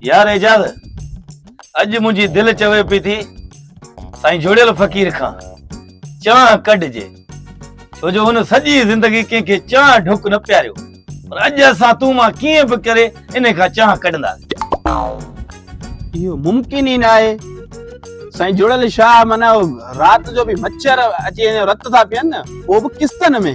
يار اعجاز اڄ منهنجي دل چوي پي ٿي سائين جوڙيل فقير کان چانهه ڪڍجي ڇو جو هن سڄي زندگي ڪنهن کي چانهه ڍڪ نه پياريو پر اڄ اسان تون مان ڪيئن به ڪري ان کان چانهه ڪڍنداسين اهو ممڪن ئي نه آهي سائين جوڙيل شاهه معنی رات جو به مڇر اچي رت ٿا پيئن نه اهو به قسطن ۾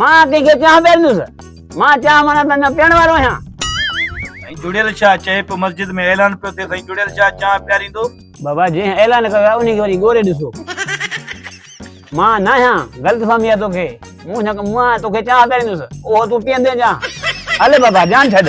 مان ڪنهن کي چانهه پياريندس مان چانهه ماڻا ته نه پيئڻ وارو آهيان سائين جڙيل شاهه چئي پيو مسجد ۾ اعلان پيو ٿئي سائين جڙيل شاهه چانهه پياريندو بابا جنهن اعلان ڪيو آهي ان کي وڃي ڳوري ڏسو مان نه آهيان غلط فهمي آهي توکي مون نه مون آهيان توکي چانهه پياريندس اهو تون پيئندين چانهه هل بابا جان ڇڏ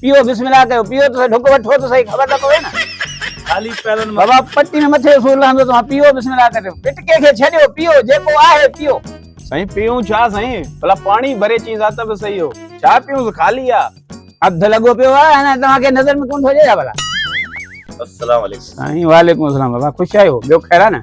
پيو بسم الله ڪيو پيو ته ڍڪ وٺو ته صحيح خبر ته پوي نه خالي پيرن مان بابا پٽي ۾ مٿي سور لهندو توهان پيو بسم الله ڪريو پٽڪي کي ڇڏيو پيو جيڪو آهي پيو سائين پيئون ڇا سائين ڀلا پاڻي ڀري چينس ها ته به صحيح هو ڇا پيئونس خالي آ اڌ لڳو پيو آ انا توهان کي نظر ۾ ڪون ٿو اچي ڇا ڀلا السلام عليڪم سائين وعليڪم السلام بابا خوش آهيو ٻيو خير آ نه